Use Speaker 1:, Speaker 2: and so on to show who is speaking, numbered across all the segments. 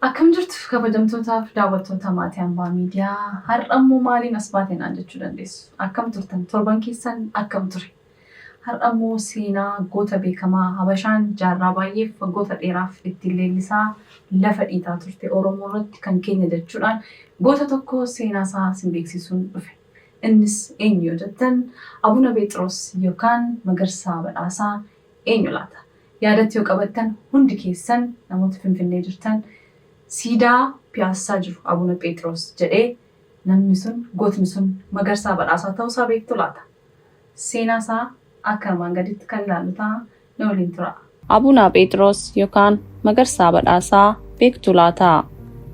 Speaker 1: Akkam jirtu kabajamtootaaf daawwattoota Maatii Ambaa Miidiyaa, har'a immoo maaliin as baate naan jechuu dandeessu. Akkam turtan? Torban keessan akkam ture? Har'a immoo seenaa goota beekamaa Habashaan jaarraa baay'eef waggoota dheeraaf ittiin leellisaa lafa dhiitaa turte Oromoo irratti kan keenya jechuudhaan goota tokko seenaa isaa isin beeksisuun dhufe. Innis eenyu yoo jettan Abuna Pheexiroos yookaan Magarsaa Badhaasaa Eenyu laata? Yaadatti yoo qabattan hundi keessan namoota Finfinnee jirtan siidaa Piyaassaa jiru Abuna Pheexiroos jedhee namni sun, gootni sun Magarsaa Badhaasaa ta'uu isaa beektu laata? Seenaa isaa akka armaan gadiitti kan ilaallu ta'a na waliin turaa. Abuna Pheexiroos
Speaker 2: yokaan Magarsaa Badhaasaa beektu laata?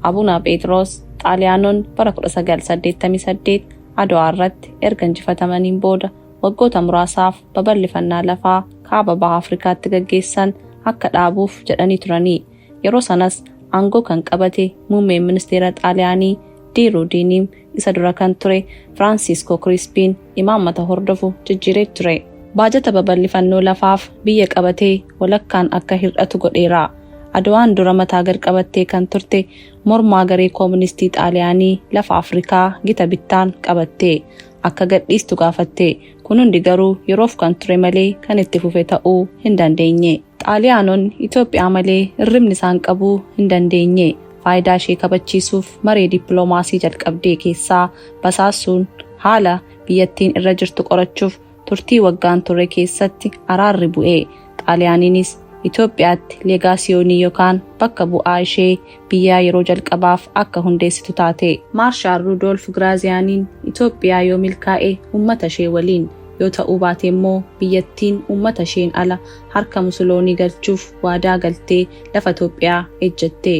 Speaker 2: Abuna Pheexiroos Xaaliyaanonni bara 1988 Adwaa irratti erga injifatamaniin booda waggoota muraasaaf babal'ifannaa lafaa kaaba baha Afrikaatti gaggeessan akka dhaabuuf jedhanii turanii yeroo sanas aangoo kan qabate muummeen ministeera Xaaliyaanii Di Ruudiiniim isa dura kan ture Firaansiiskoo Kiriispiin imaammata hordofu jijjiiree ture. Baajata babal'ifannoo lafaaf biyya qabatee walakkaan akka hir'atu godheera. Adwaan dura mataa gad qabattee kan turte mormaa garee kooministii Xaaliyaanii lafa Afrikaa gita bittaan qabatte. akka gadhiistu gaafatte. Kun hundi garuu yeroof kan ture malee kan itti fufe ta'uu hin dandeenye. Xaaliyaanonni Itoophiyaa malee irribni isaan qabuu hin dandeenye. Faayidaa ishee kabachiisuuf maree dippiloomaasii jalqabdee keessaa basaasuun haala biyyattiin irra jirtu qorachuuf turtii waggaan turre keessatti araarri bu'e. Xaaliyaaniinis Itoophiyaatti leegaasiyoonii yokaan bakka bu'aa ishee biyyaa yeroo jalqabaaf akka hundeessitu taate. Maarshaal Ruudoolf Giraaziyaaniin Itoophiyaa yoo milkaa'e ummata ishee waliin, yoo ta'uu baate immoo biyyattiin ummata isheen ala harka Musuloonii galchuuf waadaa galtee lafa Itoophiyaa ejjette.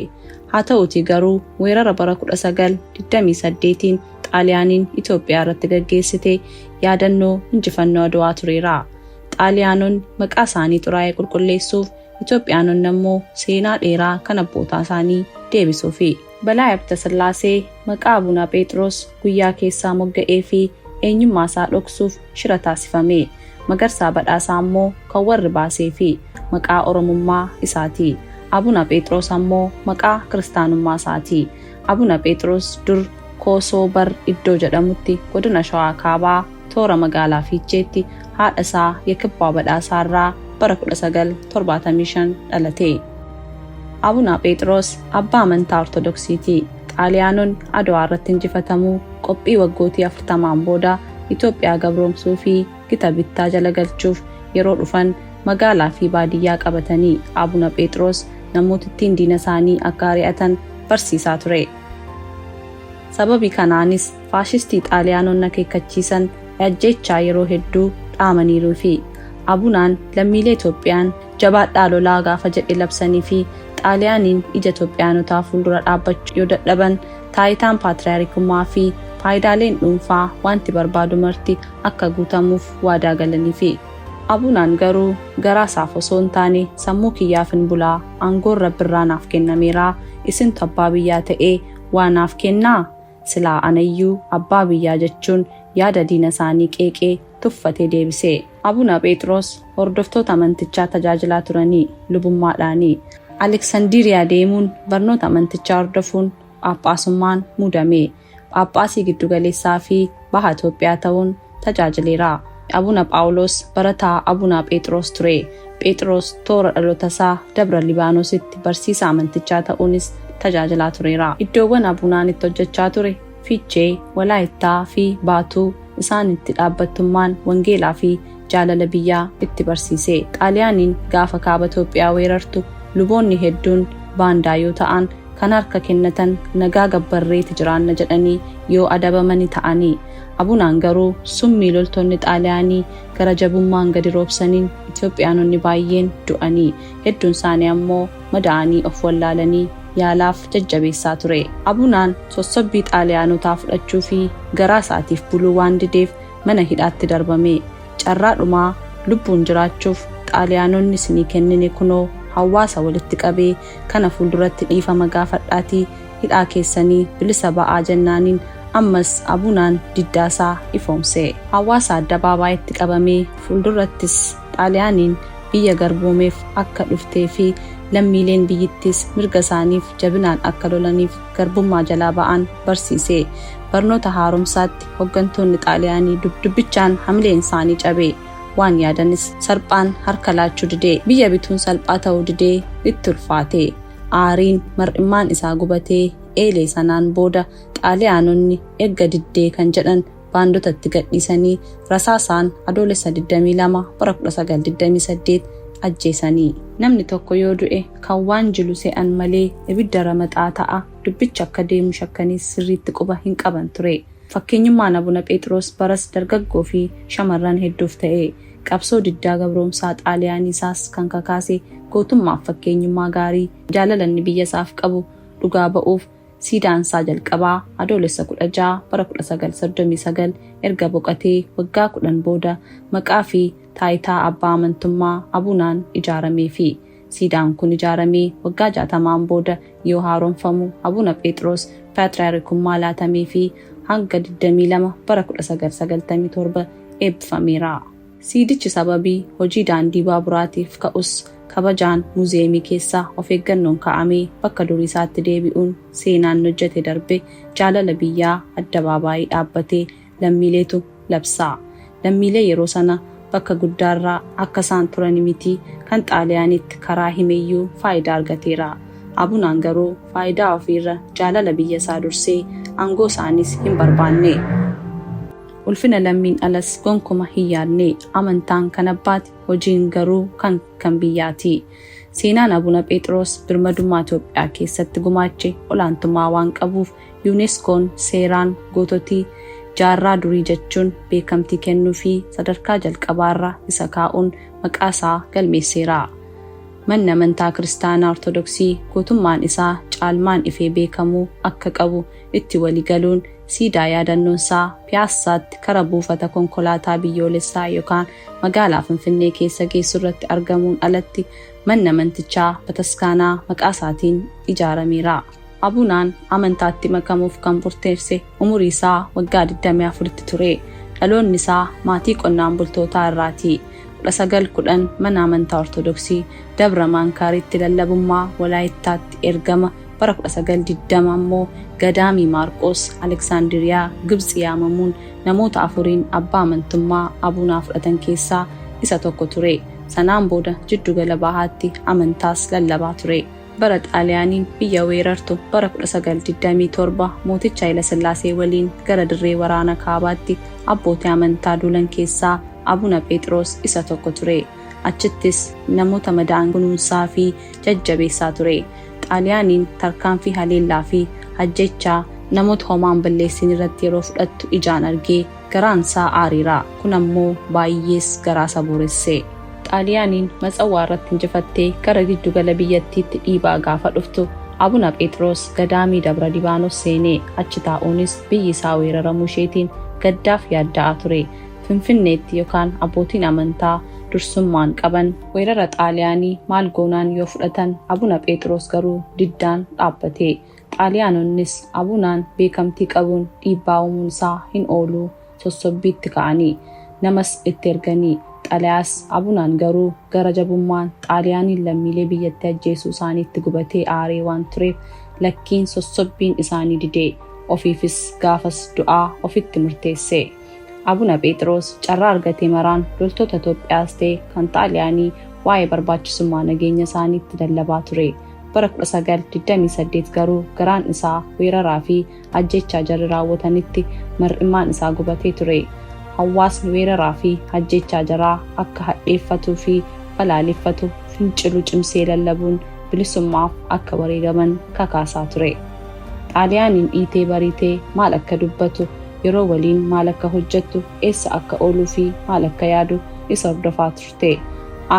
Speaker 2: Haa ta'uutii garuu weerara bara 1928n Xaaliyaaniin Itoophiyaa irratti gaggeessite yaadannoo injifannoo Adwaa tureera. Xaaliyaanonni maqaa isaanii xuraa'e qulqulleessuuf, Itoophiyaanonni ammoo seenaa dheeraa kan abbootaa isaanii deebisuufi. Balaay Abtasillaasee maqaa Abuna Pheexiroos guyyaa keessaa mogga'eefi eenyummaa isaa dhoksuuf shira taasifame. Magarsaa Badhaasaa ammoo kan warri baaseefi maqaa Oromummaa isaati. Abuna Pheexiroos ammoo maqaa kiristaanummaa isaati. Abuna Pheexiroos dur Koosoo Bar Iddoo jedhamutti Godina Shawaa Kaabaa, toora magaalaa Fiicheetti haadha isaa Yakibbaa Badhaasaa irraa bara 1975 dhalate. Abuna Pheexiroos abbaa amantaa Ortodoksiiti. Xaaliyaanonni Adwaa irratti injifatamuu qophii waggootii 40n booda Itoophiyaa gabroomsuu fi gita bittaa jala galchuuf yeroo dhufan magaalaa fi baadiyyaa qabatanii Abuna Pheexiroos namootittiin diina isaanii akka ari'atan barsiisaa ture. Sababii kanaanis faashistii Xaaliyaanonni akeekkachiisan ajjeechaa yeroo hedduu dhaamaniiruu fi Abunaan lammiilee Itoophiyaan jabaadhaa lolaa gaafa jedhe labsanii fi Xaaliyaaniin ija Itoophiyaanotaa fuuldura dhaabbachuu yoo dadhaban taayitaan Paatriyaarikummaa fi faayidaaleen dhuunfaa waanti barbaadu marti akka guutamuuf waadaa galaniifi. Abunaan garuu garaa isaaf osoo hin taane sammuu kiyyaafin bulaa, aangoon Rabbirraa naaf kennameeraa, isintu abbaa biyyaa ta'ee waa naaf kennaa? Silaa anayyuu abbaa biyyaa jechuun yaada diina isaanii qeeqee tuffatee deebise. Abuna Pheexiroos hordoftoota amantichaa tajaajilaa turanii lubummaadhaani. Aleksandiriyaa deemuun barnoota amantichaa hordofuun phaaphaasummaan muudame. Phaaphaasii giddugaleessaa fi Baha Itoophiyaa ta'uun tajaajileera. Abuna Phaawuloos barataa Abunaa Pheexiroos ture. Pheexiroos toora dhalotasaa Dabra Libaanositti barsiisaa amantichaa ta'uunis tajaajilaa tureera. Iddoowwan Abunaan itti hojjechaa ture Fiichee, Walaayittaa, fi Baatuu isaan itti dhaabbattummaan wangeelaa fi jaalala biyyaa itti barsiise. Xaaliyaaniin gaafa Kaaba Itoophiyaa weerartu luboonni hedduun baandaa yoo ta'an kan harka kennatan nagaa gabbarreeti jiraanna jedhanii yoo adabamani ta'ani. Abunaan garuu summii loltoonni Xaaliyaanii gara jabummaan gadi roobsaniin Itoophiyaanonni baay'een du'anii, hedduunsaanii ammoo madaa'anii of wallaalanii yaalaaf jajjabeessaa ture. Abunaan sossobbii Xaaliyaanotaa fudhachuufi garaasaatiif buluu waan dideef mana hidhaatti darbame. Carraa dhumaa lubbuun jiraachuuf Xaaliyaanonni isinii kennine kunoo hawwaasa walitti qabee kana fuulduratti dhiifama gaafadhaatii hidhaa keessanii bilisa ba'aa jennaaniin ammas Abunaan diddaa isaa ifoomse. Hawaasa addabaabaayitti qabamee fuuldurrattis Xaaliyaaniin biyya garboomeef akka dhuftee fi lammiileen biyyittiis mirga isaaniif jabinaan akka lolaniif garbummaa jalaa ba'an barsiise. Barnoota haaromsaatti hoggantoonni Xaaliyaanii dubbichaan hamileen isaanii cabe. Waan yaadanis salphaan harka laachuu dide. Biyya bituun salphaa ta'uu didee itti ulfaate. Aariin mar'immaan isaa gubatee eelee sanaan booda Xaaliyaanonni erga diddee kan jedhan baandota itti gadhiisanii rasaasaan Adoolessa 22 bara 1928 ajjeesanii. Namni tokko yoo du'e kan waan jilu se'an malee ibidda ramaxaa ta'a dubbichi akka deemu shakkaniis sirriitti quba hin qaban ture. Fakkeenyummaan Abuna Pheexiroos baras dargaggoo fi shamarran hedduuf ta'e. Qabsoo diddaa gabroomsaa Xaaliyaanii isaas kan kakaase gootummaaf fakkeenyummaa gaarii, jaalala inni biyya isaaf qabu dhugaa ba'uuf siidaan isaa jalqabaa Adoolessa 16 bara 1939 erga boqatee waggaa 10 booda maqaa fi taayitaa abbaa amantummaa Abunaan ijaarameefi. Siidaan kun ijaaramee waggaa 60n booda yoo haaromfamu Abuna Pheexiroos Paatriyaarikummaa laatameefii hanga 22 bara 1997 eebbifameera. Siidichi sababii hojii daandii baaburaatiif ka'us kabajaan muuziyeemii keessa of eeggannoon kaa'amee bakka durii isaatti deebi'uun seenaan hojjete darbe jaalala biyyaa addabaabaayi dhaabbatee lammiileetu labsaa. Lammiilee yeroo sana bakka guddaarra akka isaan turani miti kan Xaaliyaaniitti karaa himeyyuu faayidaa argateera. Abunaan garuu faayidaa ofiirra jaalala biyya isaa dursee aangoo isaaniis hin barbaanne. Ulfina lammiin alas gonkuma hin yaadne. Amantaan kan abbaati, hojiin garuu kan kan biyyaati. Seenaan Abuna Pheexiroos birmadummaa Itoophiyaa keessatti gumaache olaantummaa waan qabuuf UNESCOn seeraan goototi jaarraa durii jechuun beekamtii kennuufii sadarkaa jalqabaarra isa kaa'uun maqaa isaa galmeesseera. Manni amantaa Kiristaanaa Ortodoksii gootummaan isaa caalmaan ifee beekamuu akka qabu itti wali galuun siidaa yaadannoonsaa Piyaassaatti kara buufata konkolaataa biyyoolessaa yokaan magaalaa Finfinnee keessa geessurratti argamuun alatti manni amantichaa bataskaanaa maqaasaatiin ijaarameera. Abunaan amantaatti makamuuf kan murteesse umurii isaa waggaa 24tti ture. Dhaloonni isaa maatii qonnaan bultootaa irraa ti. 19 10 Mana Amantaa Ortodoksii Dabra Maankaaritti lallabummaa Walaayittaatti ergama Bara 1920 immoo Gadaamii Maarqoos, Aleksaandiriyaa, Gibtsi yaamamuun namoota afuriin abbaa amantummaa Abunaa fudhatan keessaa isa tokko ture. Sanaan booda Jiddu Gala Bahaatti amantaas lallabaa ture. Bara Xaaliyaaniin biyya weerartu bara 1927 mooticha Hayilasillaasee waliin gara dirree waraana kaabaatti abbootii amantaa duulan keessaa Abuna Pheexiroos isa tokko ture. Achittis namoota madaa'an kunuunsaa fi jajjabeessaa ture. Xaaliyaaniin tarkaanfii haleellaa fi ajjeechaa namoota homaa hin balleessiin irratti yeroo fudhattu ijaan argee. Garaansaa aareera. Kun ammoo baay'ees garaasa booresse. Xaaliyaaniin Matsawwaa irratti injifattee gara giddu gala biyyattiitti dhiibaa gaafa dhuftu Abuna Pheexiroos gadaamii Dabra Libaanos seenee achi taa'uunis biyyi isaa weeraramuu isheetiin gaddaaf yaadda'aa ture. Finfinneetti yokaan abbootiin amantaa dursummaan qaban weerara Xaaliyaanii maal goonaan yoo fudhatan Abuna Pheexiroos garuu diddaan dhaabbate. Xaaliyaanonnis Abunaan beekamtii qabuun dhiibbaa uumuun isaa hin oolu sossobbiitti ka'anii namas itti erganii xalayaas Abunaan garuu gara jabummaan Xaaliyaaniin lammiilee biyyatti ajjeesuu isaaniitti gubatee aaree waan tureef lakkiin sossobbiin isaanii didee ofiifis gaafas du'aa ofitti murteesse. Abuna Pheexiroos carraa argate maraan loltoota Itoophiyaas ta'e kan Xaaliyaanii waa'ee barbaachisummaa nageenya isaaniitti lallabaa ture. Bara 1928 garuu garaan isaa weeraraa fi ajjeechaa jarri raawwatanitti mar'immaan isaa gubatee ture. Hawaasni weeraraa fi ajjeechaa jaraa akka hadheeffatuu fi balaaleffatu fincilu cimsee lallabuun bilisummaaf akka wareegaman kakaasaa ture. Xaaliyaaniin dhiitee bariitee maal akka dubbatu yeroo waliin maal akka hojjettu, eessa akka ooluu fi maal akka yaadu isa hordofaa turte.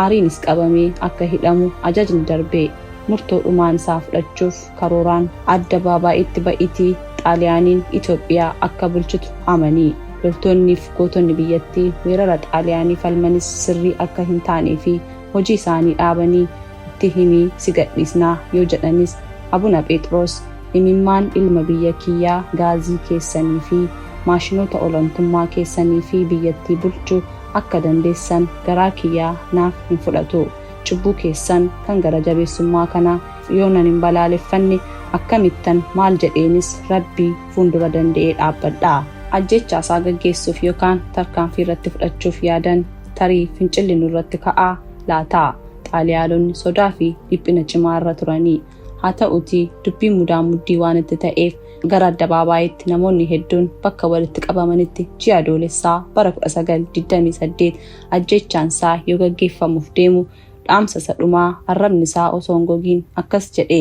Speaker 2: Aariinis qabamee akka hidhamu ajajni darbe. Murtoo dhumaan isaa fudhachuuf karooraan addabaabaayitti ba'iitii Xaaliyaaniin Itoophiyaa akka bulchitu amani. Loltoonnii fi gootonni biyyattii weerara Xaaliyaanii falmanis sirrii akka hin taanee fi hojii isaanii dhaabanii itti himi si gadhiisna yoo jedhanis Abuna Pheexiroos imimmaan ilma biyya kiyyaa gaazii keessanii fi maashinoota olantummaa keessanii fi biyyattii bulchu akka dandeessan garaa kiyyaa naaf hin fudhatu. Cubbuu keessan kan gara jabeessummaa kana yoonan hin balaaleffanne akkamittan maal jedheenis Rabbi fuundura dande'ee dhaabbadha? Ajjeechaa isaa gaggeessuuf yookaan tarkaanfii irratti fudhachuuf yaadan tarii fincilli nurratti ka'a laata? Xaaliyaalonni sodaa fi dhiphina cimaa irra turanii. Haa ta'uutii dubbiin mudaa muddii waan itti ta'eef gara addabaabaayitti namoonni hedduun bakka walitti qabamanitti ji'a Adoolessaa bara 1928 ajjeechaan isaa yoo gaggeeffamuuf deemu dhaamsa isa dhumaa arrabni isaa osoo hin gogiin akkas jedhe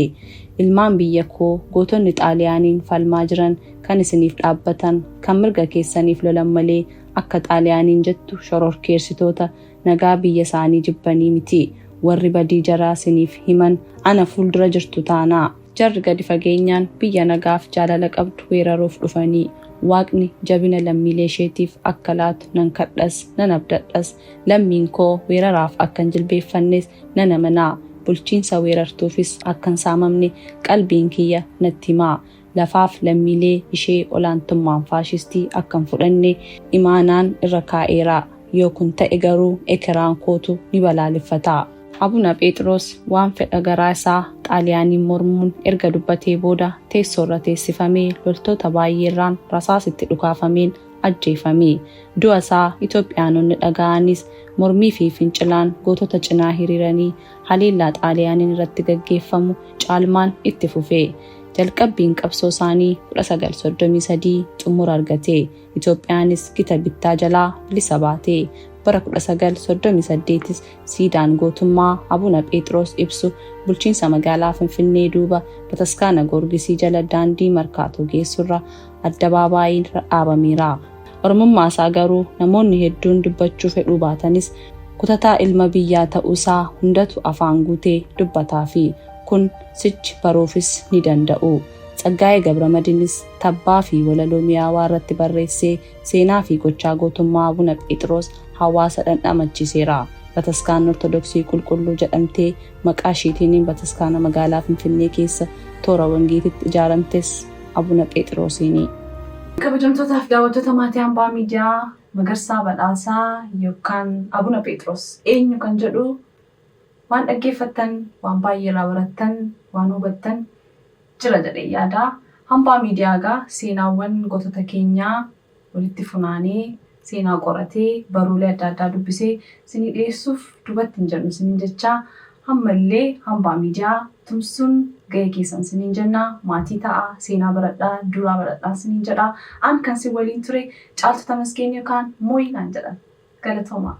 Speaker 2: ilmaan biyya koo gootonni xaaliyaaniin falmaa jiran kan isiniif dhaabbatan kan mirga keessaniif lolan malee akka xaaliyaaniin jettu shororkeersitoota nagaa biyya isaanii jibbanii mitii warri badii jaraa siniif himan ana fuuldura jirtu taanaa jarri gadi fageenyaan biyya nagaaf jaalala qabdu weeraruuf dhufanii waaqni jabina lammiilee isheetiif akka laatu nan kadhas nan abdadhas lammiin koo weeraraaf akkan jilbeeffannes nan amanaa bulchiinsa weerartuufis akkan saamamne qalbiin kiyya natti himaa lafaaf lammiilee ishee olaantummaan faashistii akka hin fudhanne imaanaan irra kaa'eera. Yoo kun ta'e garuu ekeraan kootu ni balaaleffata. Abuna Pheexiroos waan fedha garaa isaa Xaaliyaaniin mormuun erga dubbatee booda teessoo irra teessifamee loltoota baay'ee irraan rasaasi itti dhukaafameen ajjeefame. Du'a isaa Itoophiyaanonni dhaga'anis mormii fi fincilaan gootota cinaa hiriiranii haleellaa Xaaliyaaniin irratti gaggeeffamu caalmaan itti fufe. Jalqabbiin qabsoo isaanii 1933 xumura argate. Itoophiyaanis gita bittaa jalaa bilisa baate. Bara 1938s siidaan gootummaa Abuna Pheexiroos ibsu bulchiinsa magaalaa Finfinnee duuba Bataskaana Goorgisii jala daandii Markaatoo geessurra addabaabaayiirra dhaabameera. Oromummaa isaa garuu namoonni hedduun dubbachuu fedhuu baatanis kutataa ilma biyyaa ta'uusaa hundatu afaan guutee dubbataafi. Kun sichi baruufis ni danda'u. Tsaggaayee Gabramadinis tabbaa fi walaloo miyaawaa irratti barreessee seenaa fi gochaa gootummaa Abuna Pheexiroos hawaasa dhandhamachiiseera. Bataskaanni Ortodoksii Qulqulluu jedhamtee maqaa ishiitiin bataskaana magaalaa Finfinnee keessa toora Wangeetitti ijaaramtes Abuna Pheexiroosiini. Kabajamtootaa
Speaker 1: fi daawwattoota maatii Ambaa Miidiyaa, Magarsaa Badhaasaa yookaan Abuna Pheexiroos eenyu kan jedhu Waan dhaggeeffattan, waan baay'ee irraa barattan, waan hubattan jira jedheen yaada. Hambaa Miidiyaa egaa seenaawwan gootota keenyaa walitti funaanee, seenaa qoratee, barruulee adda addaa dubbisee isinii dhiyeessuuf dubatti hin jennu isiniin jechaa, amma illee Hambaa Miidiyaa tumsuun gahee keessan isiniin jenna. Maatii ta'aa, seenaa baradhaa, duudhaa baradhaan isiniin jedha. An kan isin waliin ture Caaltuu Tamasgeen yookaan Mooyii naan jedhan. Galatoomaa!